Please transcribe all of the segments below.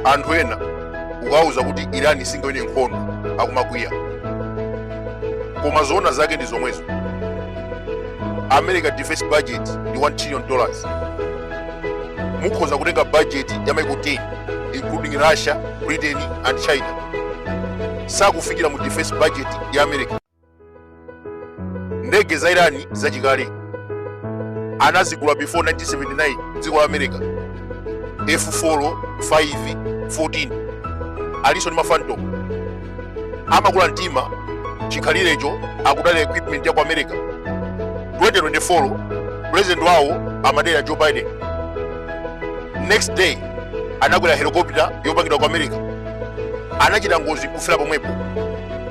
anthu ena ukawuza kuti irani singawine nkhondo akumakwiya koma zoona zake ndi zomwezo america defense budget ndi 1 trillion dollars mukhoza kutenga budget ya maiko 10 including russia britain and china sakufikira mu defense budget ya america ndege za irani zachikale anazigula before 1979 mdziko la america f4 5 14 alinso ndi mafantom amakula mtima chikhalirecho akudalira equipment ya ku america 2024 president wawo amadera joe biden next day anakwera helicopter yopangidwa ku america anachita ngozi nkufera pomwepo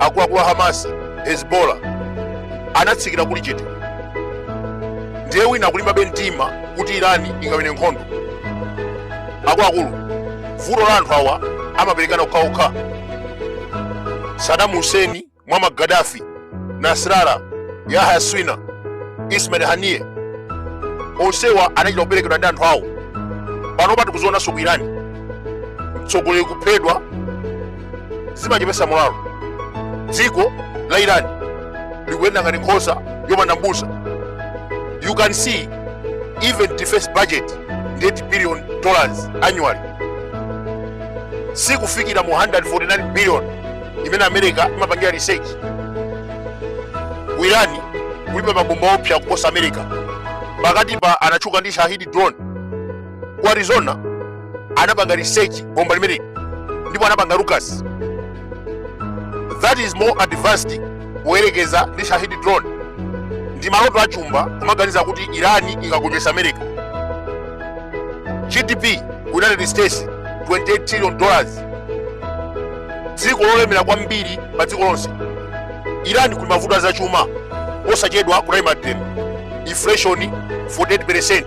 akuluakulu a hamasi hezbola anatsikira kuli chete ndiye wina nkulimbabe mtima kuti irani ingawine nkhondo akuluakulu vuto la anthu awa amaperekana okhaokha sadamu huseni muammar gaddafi nasrallah yahya sinwar ismail haniyeh onsewa anachita kuperekedwa ndi anthu awo panopa tikuzionanso ku irani mtsogoleri kuphedwa zimachepesa molalo dziko la irani likuyenda ngati nkhosa yopanda mbusa you can see even defense budget ndi 8 billion dollars annually sikufikira mu 149 billion imene america imapangira research ku irani kulibe mabomba opsa kuposa america pakatipa anatchuka ndi shahidi drone ku arizona anapanga research bomba limeneri ndipo anapanga lucas that is more advanced poyerekeza ndi shahid drone ndi maloto achumba kumaganiza kuti irani ikagonjetsa america gdp ku united states 28 trillion dollars dziko lolemera kwambiri pa dziko lonse irani kuli mavuto azachuma posachedwa kunali mademo inflation 48 percent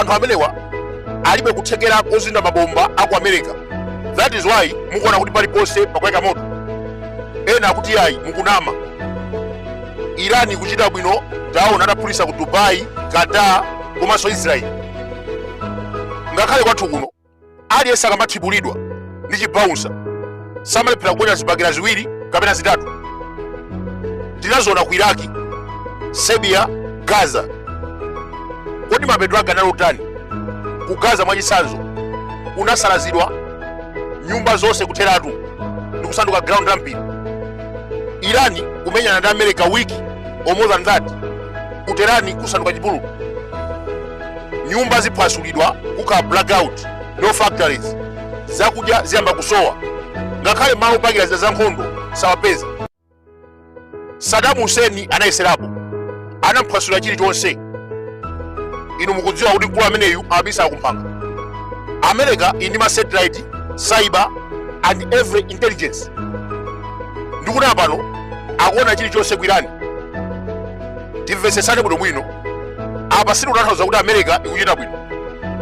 anthu amenewa alibe kuthekera kozinda mabomba a ku america that is why mukuona kuti paliponse pakuyaka moto ena akuti ayi mukunama irani ikuchita bwino taona adaphulitsa ku dubai qatar komanso israel ngakhale kwathu kuno aliyense akamathibulidwa ndi chibaunsa samalephera kuponya zibakera ziwiri kapena zitatu tinaziona ku iraki serbia gaza kodi mapeto ake anali otani ku gaza mwachitsanzo kunasalazidwa nyumba zonse kutheratu ndi kusanduka ground la mpira irani kumenyana ndi america wiki or more than that ku tehran kusanduka chipululu nyumba ziphwasulidwa kukhala blackout no factories zakudya ziyamba kusowa ngakhale malo opangira zida za nkhondo sawapeza saddam hussein anayeserapo anamuphwasulira chilichonse inu mukudziwa kuti mkulu ameneyu amabisa kumphanga america ili ndi ma satellite cyber and every intelligence ndikuti pano akuona chilichonse ku irani timvetsetsane bwinobwino apa sitikutanthauza kuti america ikuchita bwino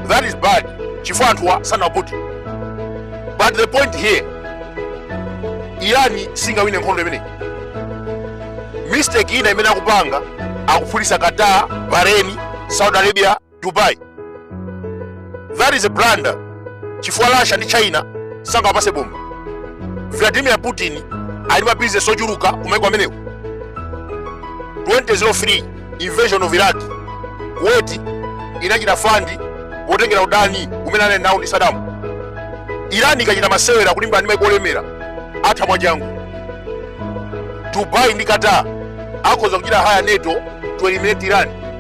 that is bad chifukwa anthuwa sanapute but the point here irani singawine nkhondo imeneyi mistake ina imene akupanga akuphulitsa qatar bahrain saudi arabia dubai that is a blunder chifukwa russia ndi china sangawapatse bomba vladimir putin ali ma business ochuluka kumaiko amenewo 2003 invasion of iraq kuwait inachita fund potengera udani umene anali nawo ndi saddam irani ikachita masewera kulimbana ndi maiko olemera atha mwachangu dubai ndi qatar akhoza kuchita hire nato to eliminate iran